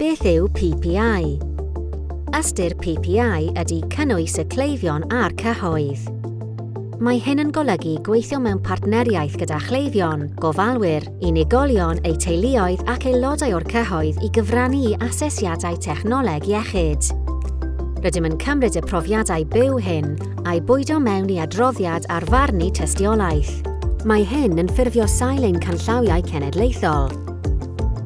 Beth yw PPI? Ystyr PPI ydy cynnwys y cleifion a'r cyhoedd. Mae hyn yn golygu gweithio mewn partneriaeth gyda chleifion, gofalwyr, unigolion, eu teuluoedd ac aelodau o'r cyhoedd i gyfrannu i asesiadau technoleg iechyd. Rydym yn cymryd y profiadau byw hyn a'i bwydo mewn i adroddiad ar farnu tystiolaeth. Mae hyn yn ffurfio sail ein canllawiau cenedlaethol,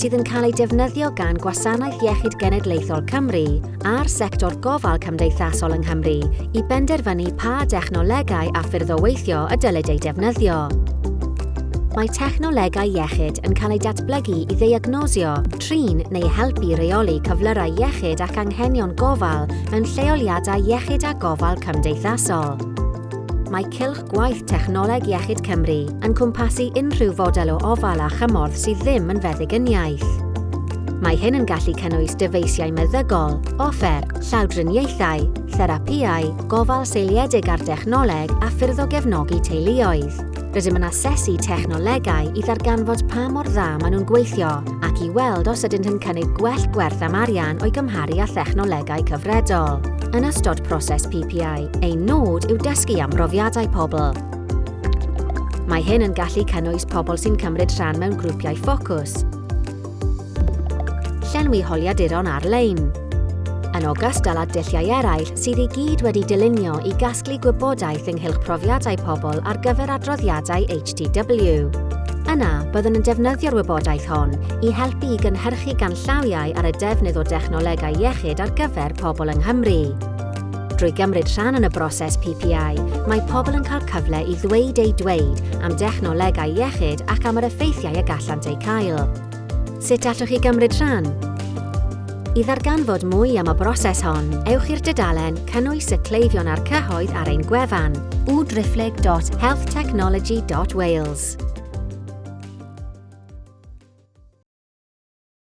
sydd yn cael eu defnyddio gan Gwasanaeth Iechyd Genedlaethol Cymru a'r sector gofal cymdeithasol yng Nghymru i benderfynu pa dechnolegau a ffyrdd o weithio y dylid eu defnyddio. Mae technolegau iechyd yn cael eu datblygu i ddeiagnosio, trin neu helpu reoli cyflyrau iechyd ac anghenion gofal mewn lleoliadau iechyd a gofal cymdeithasol. Mae cylch gwaith Technoleg Iechyd Cymru yn cwmpasu unrhyw fodel o ofal a chymorth sydd ddim yn feddygyniaeth. Mae hyn yn gallu cynnwys dyfeisiau meddygol, offer, llawdriniaethau, therapïau, gofal seiliedig ar dechnoleg a ffyrdd o gefnogi teuluoedd. Rydym yn asesu technolegau i ddarganfod pa mor dda maen nhw'n gweithio ac i weld os ydynt yn cynnig gwell gwerth am arian o'i gymharu â thechnolegau cyfredol. Yn ystod proses PPI, ein nod yw dysgu am brofiadau pobl, Mae hyn yn gallu cynnwys pobl sy'n cymryd rhan mewn grwpiau ffocws, Llenwi holiaduron ar-lein. Yn ogystal â dulliau eraill sydd i gyd wedi dylunio i gasglu gwybodaeth ynghylch profiadau pobl ar gyfer adroddiadau HTW. Yna, byddwn yn defnyddio'r wybodaeth hon i helpu i gynhyrchu ganllawiau ar y defnydd o dechnolegau iechyd ar gyfer pobl yng Nghymru. Drwy gymryd rhan yn y broses PPI, mae pobl yn cael cyfle i ddweud eu dweud am dechnolegau iechyd ac am yr effeithiau y gallant eu cael. Sut allwch chi gymryd rhan? I ddarganfod mwy am y broses hon, ewch i'r dudalen Cynnwys y Cleifion a'r Cyhoedd ar ein gwefan, www.healthtechnology.wales.